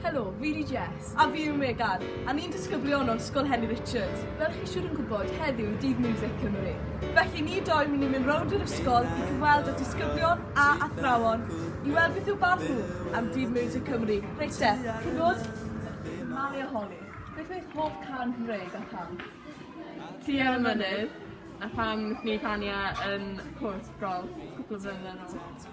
Helo, fi yw Jess. A fi yw Megan, a ni'n disgyblion o Ysgol Henry Richards. Fel chi siwr yn gwybod, heddiw yw Dydd Miwsig Cymru. Felly ni dou mynd i mynd rownd yr ysgol i gyfweld â disgyblion a athrawon i weld beth yw barn nhw am Dydd Miwsig Cymru. Reit te, cyn bod yn malu a holi, beth yw eich hoff can Cymreig a pham? Ti ar y mynydd, a pham wnaethon ni canu e yn cwrs golff cwpl o flynyddoedd yn ol?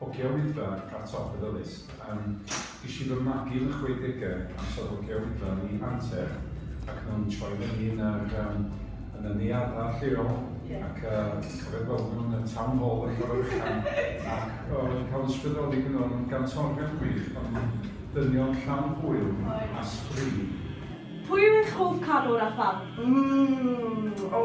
Hogia Wyddfa ar top y ddilys. Yym, ges i fy magu yn y chwedegau amser hogia Wyddfa yn New Hanter ac nhw'n troi fyny yn yr, um, yn y neuaddfa lleol yeah. ac uh, cofio gweld nhw yn y town hall yn fawr uchan ac o, wedi cael ysbrydoli gyda nhw'n gantorion gwych ond dynion llawn hwyl a sbri. Pwy yw eich hoff canwr a pham? Mmm, o!